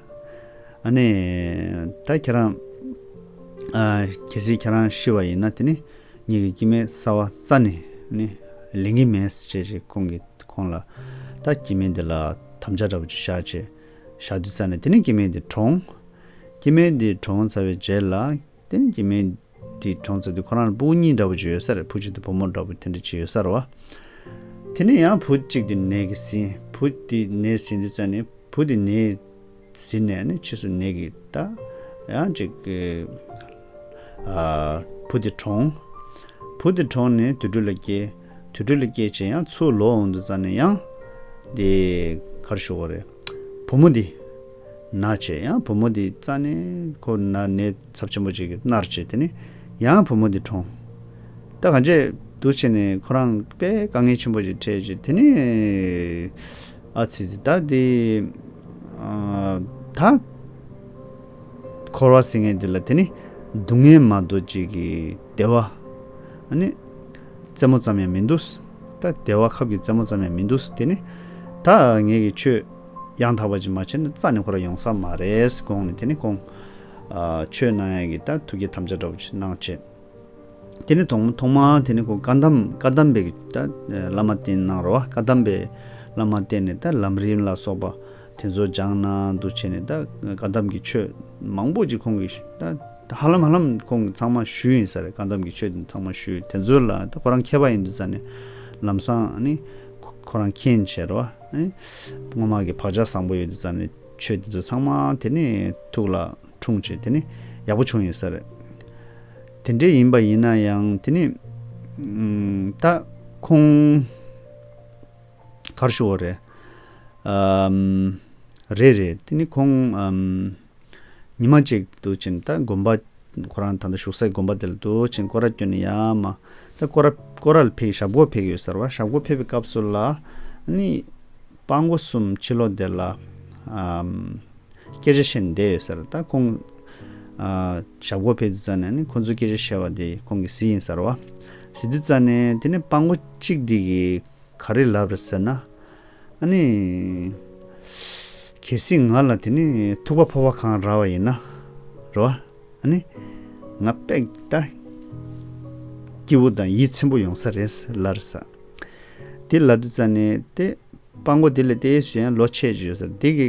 ནས། ད་ཁྱེད་རང། གལ་སྲིད་ཁྱེད་རང་ཤི་བ་ཡིན་ན་དེ་ནི་ངེད་ཀྱི་སྐྱེ་མེད་གསར་བ་རྩ་ནས་ནི་ལེན་གྱི་མེད་ཅེས་ཅེས་ཁོང་གིས་ཁོང་ལ། ད་སྐྱེ་མེད་འདི་ལ་དམ་བཅའ་འདྲ་པོ་ཅིག་བཞག་ཅེས་བཞག་དུས་རྩ་ནས་དེ་ནི་སྐྱེ་མེད་འདི་གྲོངས། སྐྱེ་མེད་འདི་གྲོངས་ཚར་བའི་རྗེས་ལ། དེ་ནི་ཀྱེ་མའི། དེའི་གྲོང་ཚོ་དེ་ཁོ་རང་ལ་སྤུ་བོ་གཉིས་འདྲ་བོ་བྱོས་ཡོད་ས་རེད་བུ་གཅིག་དེ་བུ་མོ་འདྲ་བོ་དེ་འདྲ་བྱས་ཡོད་ས་རེད་བ། དེ་ནས་ཡང་བུ་གཅིག་དེ་ནད་ཀྱིས་ཟིན། བུ་དེ་ནད་ཟིན་དུས་ཙཱ་ནི་བུ་དེ་ནད་ཟིན་ནས་ནི་ཕྱིས་སུ་ནད་ཀྱིས་ད། ཡང་ཅིག། བུ་དེ་གྲོངས། བུ་དེ་གྲོངས་ནས་དུད་འགྲོ་ལ་སྐྱེས། དུད་འགྲོ་ལ་སྐྱེས་བྱས་ཡང་ཚུར་ལོག་འོང་དུས་ཙཱ་ནི་ཡང། དེ་གར་ཞུགས་བ་རེད། བུ་མོ་དེ། ན་བྱེད་ཡང་བུ་མོ་དེའི་རྩ་ནས་ཁོ་ན་ནད་ཚབས་ཆེན་པོ་ཅིག་གིས་མནར་བྱེད་དེ་ནི་ཡང་བུ་མོ་དེ་གྲོངས། ད་གང་བྱེད་འདུག་བྱས་ནས་ཁོ་རང་པས་དཀའ་ངལ་ཆེན་པོ་ཅིག་འཕྲད་བྱེད་དེ་ནི། ཨ་ཙི་ཙི་བདག་འདི། ད། འཁོར་བ་སེང་ངེ་འདི་ལ་དེ་ནི་སྡུག་བསྔལ་མ་གཏོགས་ཅིག་གིས་བདེ་བ། ཨ་ནི། རྩེད་མོ་ཙམ་ཡང་མི་འདུག། ད་བདེ་བ་ཁབ་ཀྱི་རྩེད་མོ་ཙམ་ཡང་མི་འདུག་དེ་ནི། ད་ངེད་ཀྱིས་ཁྱོད། ཡང་དག་པ་ཅིག་མ་བྱས་ན་རྩ་ནས་ཁོ་ར་ཡོང་ས་མ་རེད་དགོངས་ནས་དེ་ནས་དགོངས། ཆོས་སྣང་ཡང་གི་དང་ཐུགས་ཀྱི་དམ་བཅའ་གྲོགས་ཅིག་གནང་བྱས། དེ་ནས་ཐོག་ཐོག་མ་དེ་ནས་ཁོ་བཀའ་གདམས་བཀའ་གདམས་པའི་གི་དང་བླ་མ་བསྟེན་གནང་རོགས་བཀའ་གདམས་པའི་བླ་མ་བསྟེན་ནས་དང་ལམ་རིམ་ལ་སོགས་པ་དེ་ཚོ་སྦྱངས་གནང་འདུག་བྱས་ནས་དང་བཀའ་གདམས་ཀྱི་ཆོས་མང་པོ་ཅིག་ཁོང་གིས་དང་ཧ་ལམ་ཧ་ལམ་ཁོང་གིས་ཚང་མ་ཞུས་ཡིན་ས་རེད་བཀའ་གདམས་ཀྱི་ཆོས་དེ་ཚང་མ་ཞུས་དེ་ཚོ་ལ་དང་ཁོ་རང་མཁས་པ་ཡིན་འདུག་ས་ནས་ལམ་སང་ནི་ཁོ་རང་མཁྱེན་བྱས་རོགས། སྔོན་མ་གི་བག་ཆགས་བཟང་པོ་ཡོད་དེ་ཙམ་ནས་ཆོས་འདི་ཚོ་ཚང་མ་དེ་ནས་ཐུགས་ལ་འཁྲུངས་བྱས་དེ་ནས་ཡག་པོ་བྱུང་ཡོད་ས་རེད། དེ་འདྲས་ཡིན་པ་ཡིན་ན་ཡང་དེ་ནས་ད་ཁོང་གར་ཞུ་བ་རེད། རེད་རེད་དེ་ནས་ཁོང་ཉི་མ་གཅིག་ཏུ་བྱིན་ད་དགོན་པ། ཁོ་རང་ད་ལྟ་བཞུགས་སའི་དགོན་པ་དེ་ལ་དུ་བྱིན་སྐོར་ར་བསྐྱོན་ནས་ཡར་མ། ད་སྐོར་ར་སྐོར་ར་ལ་ཕེབས་ཞབས་སྒོར་ཕེབས་ཡོད་ཟེར་བ་ཞབས་སྒོར་ཕེབས་པའི་སྐབས་སུ་ལ། ནི། དཔའ་མགོ་གསུམ་ཕྱི་ལོགས་དེ་ལ། སྐད་ཆ་བཤད་ནས་བསྡད་ཡོད་ཟེར་ད་ཁོང། ཞབས་སྒོར་ཕེབས་དུས་རྩ་ནས་ནི་ཁོང་ཚོའི་སྐད་ཆ་བཤད་བ་དེ་ཁོང་གི་གཟི་ཡིན་ཟེར་བ། གཟི་དུས་རྩ་ནས་དེ་ནི་དཔའ་མགོ་གཅིག་འདི་གིས་ག་རེ་ལབ་རེད་ཟེར་ན། ཨ་ནི། གལ་སྲིད་ང་ལ་དེ་ནི་ཐུག་པ་ཕོར་བ་གང་ར་བ་ཡིན་ན་ར་བ། ཨ་ནི། ང་དཔེ་ད། སྐྱིད་བོ་དང་ཡིད་ཚིམ་པོ་ཡོང་ས་རེད་ལར་ས། དེ་ལ་དུ་ཙ་ནི་ཏེ། སྤང་མགོ་དེ་ལས་ཏེ་གཞན་ལོ་ཆས་ཅི་ཡོད་ས་རེད་དེ་གི་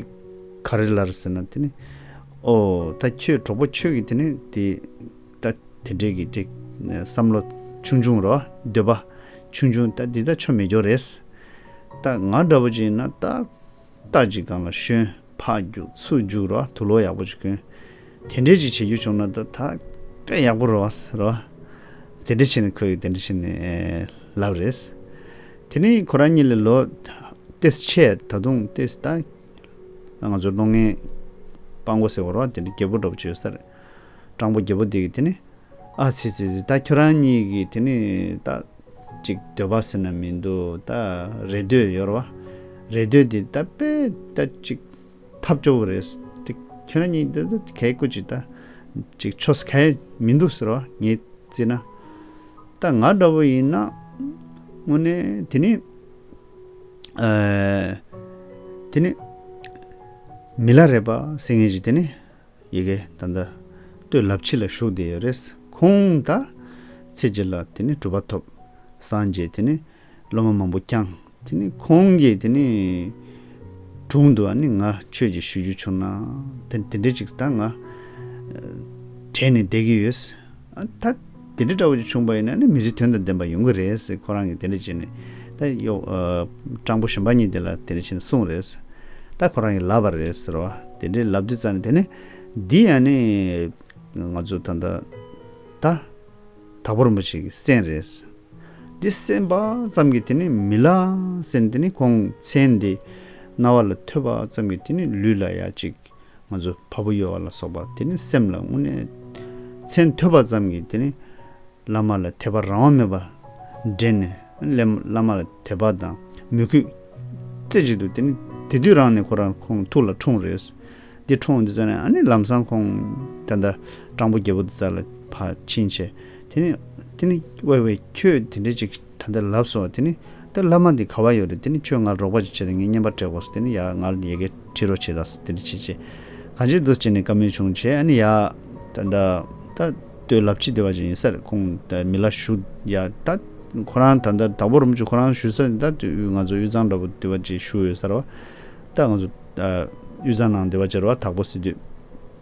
ག་རེ་ལར་ཟེར་ན་དེ་ནི། ཨོ། ད་ཁྱོད་གྲོགས་པོ་ཁྱོད་ཀྱི་དེ་ནི་དེ། ད་དེ་འདྲས་ཀྱི་དེ་བསམ་བློ་ཆུང་ཆུང་རོ་འདོད་པ་ཆུང་ཆུང་ད་འདི་ད་ཆོ་མེད་འགྱོ་རེད། ད་ང་འདྲ་བོ་ཅིག་ཡིན་ན་ད་ཏག་ཅིག་སྒང་ལ་ཤོན་ཕག་རྒྱུགས་ཚུགས་རྒྱུགས་རོ་དུ་ལོ་ཡག་པོ་ཅིག་གོན། དེ་འདྲས་ཅིག་བྱེད་རྒྱུ་བྱུང་ན་ད་ད་ཀ་ཡག་པོ་རོ་རོ། དེ་འདྲས་བྱས་ནས་ཁོས་དེ་འདྲས་བྱས་ནས་ལབ་རེད། དེ་ནས་ཁོ་རང་གཉིས་ལས་ལོ་ཏེས་ཆད་ད་དུང་ཏེས་ད་ང་ཚོ་ལོ་ངན་སྤང་གོ་ཟེར་བ་རོ་དེ་འདྲས་རྒྱལ་པོ་འདྲ་བོ་ཅིག་ཡོད་ས་རེད། སྤྲང་པོ་རྒྱལ་པོ་དེ་གིས་དེ་ནི། ཨ་ཚི་ཚི་ཚི་ད་ཁྱོད་རང་གཉིས་ཀྱིས་དེ་ནི་ད། ཅིག་འདོད་པ་ཟེར་ན་མི་འདུག་ད་རེ་འདོད་ཡོད་རེད་བ། རེ་འདོད་དེ་ད་དཔེ་ད་ཅིག། ཐབས་སྐྱོ་བོ་རེད། དེ་ཁྱོད་རང་གཉིས་ད་ད་གས་སྐུ་ཅིག་ད། ཅིག་ཆོ་ཟ་གས་མི་འདུག་ཟེར་བ་ངས་བརྩིས་ན། ད་ང་འདྲ་བོ་ཡིན་ན། དངོས་ནས་དེ་ནི། དེ་ནི། མི་ལ་རེད་བ་སེང་ངེ་ཅིག་དེ་ནི། ཡི་གེ་ད་ལྟ་སྟོད་ལབ་ཕྱི་ལ་བཞུགས་བསྡད་ཡོད་རེད། ཁོང་ད་ཚེ་རྗེ་ལ་དེ་ནས་གྲུབ་པ་ཐོབ། སངས་རྒྱས་དེ་ནས་སློབ་མ་མང་པོ་བསྐྱངས། དེ་ནས་ཁོང་གི་དེ་ནས་དྲུང་དུ་ནི་ང་ཁྱོད་ཀྱི་ཞུ་རྒྱུ་བྱུང། དེ་འདྲ་ཅིག་ད་ང་བྲེལ་ནས་བསྡད་ཀྱི་ཡོད། ད་དེ་འདྲ་འདྲ་བོ་ཅིག་བྱུང་པ་ཡིན་ན་ནི་མི་ཚེ་དོན་དང་ལྡན་པ་ཡོང་གི་རེད་ཟེར་ཁོ་རང་གིས་དེ་འདྲ་བྱས་ནས་ད་གཡོ། སྤྲང་པོ་གཞོན་པ་གཉིས་དེ་ལ་དེ་འདྲ་བྱས་ནས་གསུངས་རེད་ཟེར། ད་ཁོ་རང་གིས་ལབ་པ་རེད་ཟེར་བ། དེ་འདྲ་ལབ་དུས་ཙང་ནས་དེ་ནི། འདི་ཡང་ནི། ང་ཚོ་ད་ལྟ། ད། དྭགས་པོ་རིན་པོ་ཆེ་གི་གསན་རེད་ཟེར། འདི་གསན་པ་ཙམ་གྱིས་དེ་ནི་མི་ལ་ཟེར་ནས་དེ་ནི་ཁོང་མཚན་འདི། རྣ་བ་ལ་ཐོས་པ་ཙམ་གྱིས་དེ་ནི་ལུས་ལ་ཡ་ཅིག། ང་ཚོ་བ་བུ་གཡོ་བ་ལ་སོགས་པ་དེ་ནི་སེམས་ལ་དངོས་གནས་མཚན་ཐོས་པ་ཙམ་གྱིས་དེ་ནི་བླ་མ་ལ་དད་པ་རང་དབང་མེད་པར་འདྲེན་ནས་བླ་མ་ལ་དད་པ་དང་མོས་གུས་རྩེ་གཅིག་ཏུ་དེ་ནི་དེ་དུས་རང་ནས་ཁོ་རང་ཁོང་ཐུགས་ལ་འཁྲུངས་རེས་འདི་འཁྲུངས་འདི་ཙམ་ནས་ཨ་ནི་ལམ་སང་ཁོང་ད་ལྟ་སྤྲང་པོ་རྒྱལ་པོ་འདི་ཙམ་ལ་ཕ་ཕྱིན་ཆད་དེ་ནི་དེ་ནི་དབའ་བས་ཁྱོད་དེ་འདྲ་ཅིག། ད་ལྟ་ལབ་སོ། དེ་ནི། ད་བླ་མ་འདི་ག་བ་ཡོད་རེད་དེ་ནི་ཁྱོས་ང་རོགས་པ་ཅིག་བྱེད་དེ་ངའི་བརྙན་པར་བྲེག་གོ། དེ་ནི་ཡ། ང་ཡི་གེ་ཁྲིད་རོགས་བྱས་དང། དེ་འདྲ་བྱས་རྗེས། གང་བྱེད་འདུག་ཅེས་ནས་བཀའ་མོལ་བྱུང་རྗེས་ཨ་ནི་ཡ། ད། ད་ལྟོས་ལབ་ཅི་བདེ་བ་ཅིག་ཡིན་སར་ཁོང་མི་ལ་ཞུ། ཡ། ད། ཁོ་རང་ད་ལྟ་དྭགས་པོ་རུ་མཆོད་ཁོ་རང་ཞུ་སར་ད་དུས་ང་ཚོ་དབུས་གཙང་འདྲ་པོ་བདེ་བ་ཅིག་ཞུ་འོས་སར་བ། ད་ང་ཚོ། དབུས་གཙང་ནང་བདེ་བ་ཅར་བ་དྭགས་པོ་སྲིད་དུས།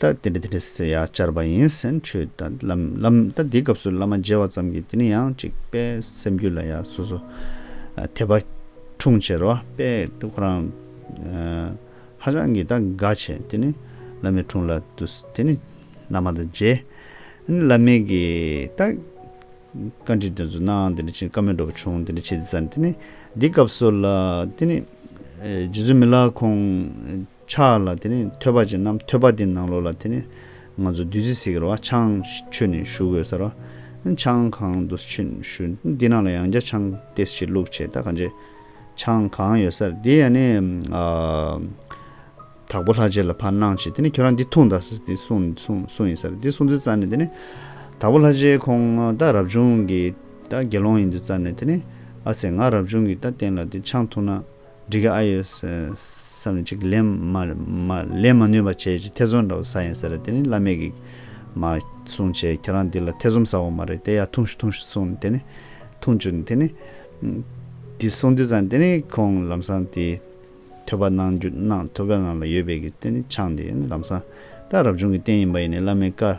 ད་དེ་འདྲ་དེ་འདྲ་ཟེར་ཡག་བཅར་བ་ཡིན་སེམས་ཆོས་ད་ལམ་ལམ་ད་འདི་སྐབས་སུ་བླ་མ་མཇལ་བ་ཙམ་གྱིས་དེ་ནི་ཡང་ཅིག་དཔལ་སེམས་རྒྱུད་ལ་ཡ་སོ་སོ་དད་པ་འཁྲུངས་ཕྱིར་རོ་དཔལ་དེ་ཁོ་རང་ཧ་ཅང་གི་ད་དགའ་ཆེ་དེ་ནི་བླ་མའི་འཁྲུངས་ལ་དུ་དེ་ནི་བླ་མ་ད་མཇལ་ཨ་ནི་བླ་མའི་གི་ད་བཀའ་འདྲི་དེ་ཚོ་གནང་དེ་འདྲ་བྱས་བཀའ་མོལ་འགྲོ་བ་བྱུང་དེ་འདྲ་བྱས་དེ་ཙམ་དེ་ནི་འདི་སྐབས་སུ་ལ་དེ་ནི་རྗེ་བཙུན་མི་ལ་ཁོང། ཕྱག་ལ་དེ་ནས་ཐོད་པ་ཅན་ནམ་ཐོད་པ་དེའི་ནང་ལོགས་ལ་དེ་ནས་ང་ཚོ་བདུད་རྩི་སེ་གེར་བ་ཆང་མཆོད་ནས་ཞུ་དགོས་ཟེར་བ། ཆང་གང་དུ་མཆོད་ནས་ཞུ། འདི་ནང་ལ་ཡང་བརྒྱ་ཆང་སྟེ་བྱེད་ལུགས་བྱེད་ད་ག་འདྲས། ཆང་གང་ཡོད་སར་དེ་ཡང་ནས་དྭགས་པོ་ལྷ་རྗེ་ལ་ཕར་གནང་བྱས་དེ་ནས་ཁྱོད་རང་འདི་འཐུང་ད་ཟེར་དེ་གསུངས་ཡིན་སར་དེ་གསུངས་དུས་རྩ་ནས་དེ་ནས་དྭགས་པོ་ལྷ་རྗེ་ཁོང་ད་རབ་བྱུང་གི་ད་དགེ་སློང་ཡིན་དུས་རྩ་ནས་དེ་ནས་ཨ་སེ་ང་རབ་བྱུང་གི་ད་བསྟན་ལ་དེ་ཆང་འཐུང་ན། འགྲིག་གི་ཨ་ཡོད། བསམ་ནས་ཅིག་ལན་ལས་མ་ནུས་པ་བྱས་ཅིག་ཐེ་ཚོམ་འདྲ་བོ་ཟ་ཡིན་ཟེར་ར་དེ་ནི་བླ་མེད་ཀྱི། མ་གསུངས་བྱས་ཁྱེད་རང་འདི་ལ་ཐེ་ཚོམ་ཟ་འོག་མ་རེད་དེ་ཡ་ཐུངས་ཤུ་ཐུངས་ཤུ་གསུངས་དེ་ནི། ཐུངས་བཅུག་ནས་དེ་ནི། དེ་གསུངས་དུས་ཙང་དེ་ནི་ཁོང་ལམ་སང་དེ། ཐོས་པ་གནང་རྒྱུ་གནང་ཐོས་པའི་ངང་ལ་ཡོད་པའི་གི་དེ་ནི་ཆང་དེ་ནི་ལམ་སང། ད་རབ་བྱུང་གི་རྟེན་ཡིན་པ་ཡིན་ནས་བླ་མའི་བཀའ།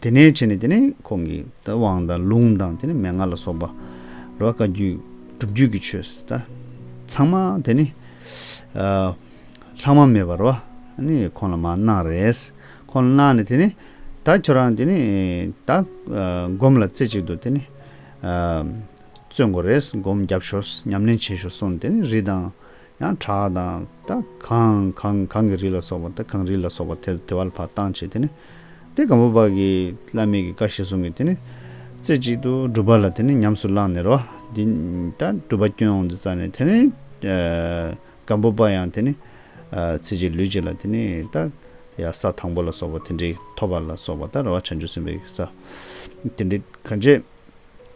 དེ་ནས་ཕྱིན་ནས་དེ་ནི་ཁོང་གི་དབང་དང་ལུང་དང་དེ་ནི་མན་ངག་ལ་སོགས་པ་རེ་བ་བཀའ་བརྒྱུད་སྒྲུབ་བརྒྱུད་ཀྱི་ཆོས་དང། ཚང་མ་དེ་ནི་ལྷག་མ་མེད་པར་བ་ནི་ཁོང་ལ་མ་གནང་རེས་ཁོང་ལ་གནང་ནས་དེ་ནི་ད་ཁྱོད་རང་དེ་ནི་ད་སྒོམ་ལ་རྩེ་གཅིག་ཏུ་དེ་ནི་བརྩོན་དགོ་རེས་སྒོམ་རྒྱབ་ཞོག་ཉམས་ལེན་བྱེད་ཞོག་གསུངས་ནས་དེ་ནི་རི་དང་ཡང་གྲགས་དང་ད་གང་གང་གང་གི་རིགས་ལ་སོགས་པ་ད་གང་རིགས་ལ་སོགས་པ་དེ་བ་ལ་བར་བཏང་བྱས་དེ་ནི་དེ་གང་བོ་བ་གི་བླ་མེད་ཀྱི་བཀའ་ཞེས་གསུངས་ཀྱི་དེ་ནི་རྩེ་གཅིག་ཏུ་བསྒྲུབ་པ་ལ་དེ་ནི་ཉམས་སུ་བླངས་ནས་རོ། འདི་ལྟར་སྒྲུབ་པ་སྐྱོན་འོང་དུ་བཙལ་ནས་དེ་ནི་གང་བོ་བ་ཡང་དེ་ནི་ཚེ་གཅིག་ལུས་གཅིག་ལ་དེ་ནི་ད་ཡང་ས་དང་པོ་ལ་སོགས་པ་དེ་འདྲའི་ཐོབ་པ་ལ་སོགས་པ་ད་ར་བ་བྱང་ཆུབ་སེམས་དཔའི་ས་དེ་འདྲའི་གང་བྱས།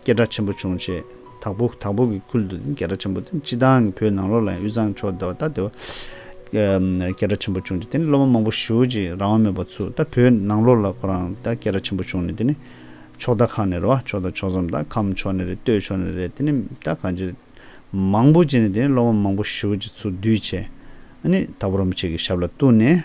སྐད་སྒྲ་ཆེན་པོ་བྱུང་རྗེས། དྭགས་པོ་དྭགས་པོ་གི་ཁུལ་དུ་སྐད་སྒྲ་ཆེན་པོ་དེ་སྤྱི་བཏང་གི་བོད་ནང་ལོགས་ལ་ཡང་དབུས་གཙང་ཕྱོགས་དེ་བ་ད་དེ་བ། སྐད་སྒྲ་ཆེན་པོ་བྱུང་རྗེས་དེ་ནི་སློབ་མ་མང་པོ་ཞི་བོ་ཅིག་རང་དབང་མེད་པར་ཚུར་ད་བོད་ནང་ལོགས་ལ་ཁོ་རང་ད་སྐད་སྒྲ་ཆེན་པོ་བྱུང་ནས་དེ་ནི། ཕྱོགས་ད་ཁ་ནས་རེད་བ་ཕྱོགས་ད་ཕྱོགས་མཚམས་ད་ཁམས་ཕྱོགས་ནས་རེད་སྟོད་ཕྱོགས་ནས་རེད་དེ་ནི་ད་གང་ཅི། མང་པོ་བྱས་ནས་དེ་ནི་སློབ་མ་མང་པོ་ཞི་བོ་ཅིག་ཚུར་བསྡུས་བྱས། ཨ་ནི་ད་བུ་རམ་བྱེད་ཀྱི་ཞབས་ལ་གཏུགས་ནས།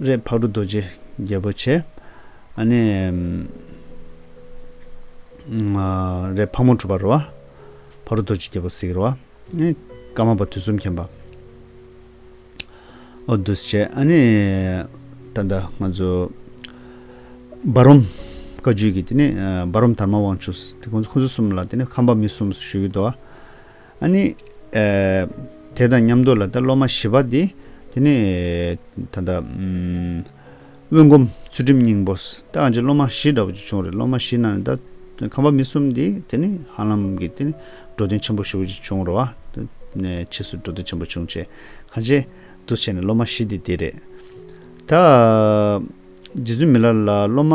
རེད། ཕག་གྲུ་རྡོ་རྗེ་རྒྱལ་པོ་ཆེ། ཨ་ནི། རེད། ཕག་མོ་གྲུ་པ་རུ་བ། ཕག་གྲུ་རྡོ་རྗེ་རྒྱལ་པོ་གཟིགས་རུ་བ། ཨེ། ཀ་མ་པ་དུས་གསུམ་མཁྱེན་པ། ཨོ་བདུད་ཆེ། ཨ་ནི། ད་ལྟ་ང་ཚོ། འབའ་རོམ། བཀའ་བརྒྱུད་ཀྱི་དེ་ནི་འབའ་རོམ་དར་མ་དབང་ཕྱུག། ཁོང་ཚོ་གསུམ་ལ་དེ་ནི་ཁམས་པ་མི་གསུམ་ཞུ་ཡུལ་དུ། ཨཱ་ནི། དེ་དང་མཉམ་དུ་ལ་ད་སློབ་མ་བཞི་པ་འདི། དེ་ནི། ད་ལྟ། དབོན་སྒོམ་ཚུལ་ཁྲིམས་སྙིང་པོ། ད་ཨ་ཅེ་སློབ་མ་བཞི་འདྲ་བོ་ཅིག་བྱུང་རེད་སློབ་མ་བཞི་ནང་ནས་ད། ཁམས་པ་མི་གསུམ་འདི་དེ་ནི་ཧ་ལམ་གྱི་དེ་ནི། འགྲོ་དོན་ཆེན་པོ་ཞེ་བོ་ཅིག་བྱུང་རོ། ཕྱིས་སུ་འགྲོ་དོན་ཆེན་པོ་བྱུང་རྗེས། གང་ཅེ། འདུ་བྱས་ནས་སློབ་མ་བཞི་འདི་དེ་རེད། ད། རྗེ་བཙུན་མི་ལ་ལ་སློབ་མ།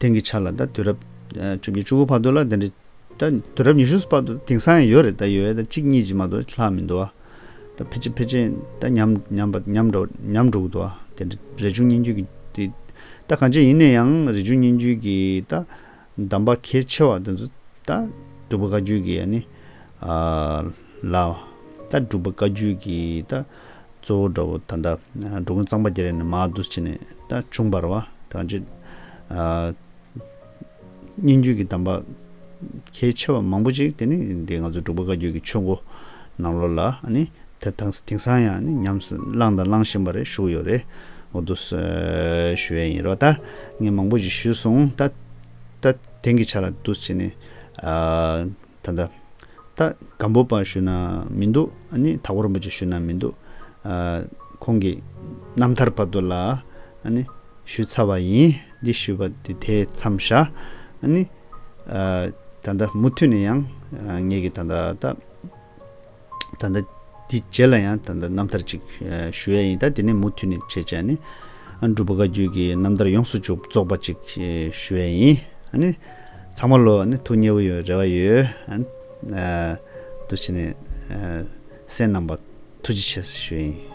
དེང་གི་ཆ་ལ་ད་དུས་རབས་བཅུ་གཉིས་བཅུ་དགུ་བར་དུ་ལ་དེ་འདྲའི་ད་དུས་རབས་ཉི་ཤུ་བར་དུ་དེང་སང་ཡང་ཡོད་རེད་ད་ཡོད་ཡོད་ད་གཅིག་གཉིས་ཀྱིས་མ་གཏོགས་ལྷག་མི་འདུག་ཨ། ད་ཕལ་ཆེར་ཕལ་ཆེར་ད་ཉམས་འགྲོ་གི་འདུག་ཨ་དེ་འདྲ་རས་ཆུང་སྙན་བརྒྱུད་ཀྱི་དེ། ད་གང་ཅི་ཡིན་ན་ཡང་རས་ཆུང་སྙན་བརྒྱུད་ཀྱི་ད་གདམས་པ་གལ་ཆེ་བ་དེ་ཚོ་ད་སྒྲུབ་པ་བཀའ་བརྒྱུད་ཀྱི་ཡ་ནི། ལ། ད་སྒྲུབ་པ་བཀའ་བརྒྱུད་ཀྱི་ད། གཙོ་བོ་དགྲ་བོ་ད་ལྟ། འགྲོ་ཀུན་གཙང་པ་རྒྱལ་རིགས་ནི་མ་དུ་བྱས་ནས། ད་ཆུང་བར་བ་གང་བྱེད། སྙན་བརྒྱུད་ཀྱི་གདམས་པ། གལ་ཆེ་བ་མང་པོ་ཅིག་དེ་ནི་འདི་ང་ཚོ་འབྲུག་པ་བཀའ་བརྒྱུད་ཀྱི་ཆོས་འགོ་ནང་ལོ་ལ་ནི། དེང་སང་ཡང་ནི་ཉམས་སུ་བླངས་དང་བླང་བཞིན་པ་རེ་བཞུགས་ཡོད་རེད། འོ་དུ་ཞུ་བའི་ཡིན་རོགས་ད། ངས་མང་པོ་ཞིག་ཞུས་སོང་ད། ད་དེང་གི་ཆ་ལ་དུ་བྱས་ནས། ད་ལྟ། ད་སྒམ་པོ་པ་ཞུ་ན་མི་འདུག་ཨ་ནི་ད་ཧོར་འབུ་ཅི་ཞུ་ན་མི་འདུག། ཁོང་གིས་རྣམ་ཐར་བར་དུ་ལ་ཨ་ནི་ཞུས་ཚར་བ་ཡིན། འདི་ཞུས་པ་དེ་དེ་མཚམས་བཞག་ཨ་ནི། ད་ལྟ་མུ་མཐུད་ནས་ཡང་ངེད་ཀྱི་ད་ལྟ། ད་ལྟ་འདི་རྗེས་ལ་ཡང་ད་ལྟ་རྣམ་ཐར་ཅིག་ཞུ་ཡ་ཡིན་ད་དེ་ནས་མུ་མཐུད་ནས་བྱེད་བྱས་ནས་སྒྲུབ་པ་བཀའ་བརྒྱུད་ཀྱི་རྣམ་ཐར་ཡོངས་སུ་རྫོགས་པ་ཅིག་ཞུ་ཡ་ཡིན། ཚང་མ་ལོ་ཐུགས་མཉེས་པོ་ཡོད་རེ་བ་ཡོད། དུ་བྱས་ནས་སེམས་རྣམ་པ་ཐུགས་རྗེ་ཆེ་ཞུ་ཡ་ཡིན།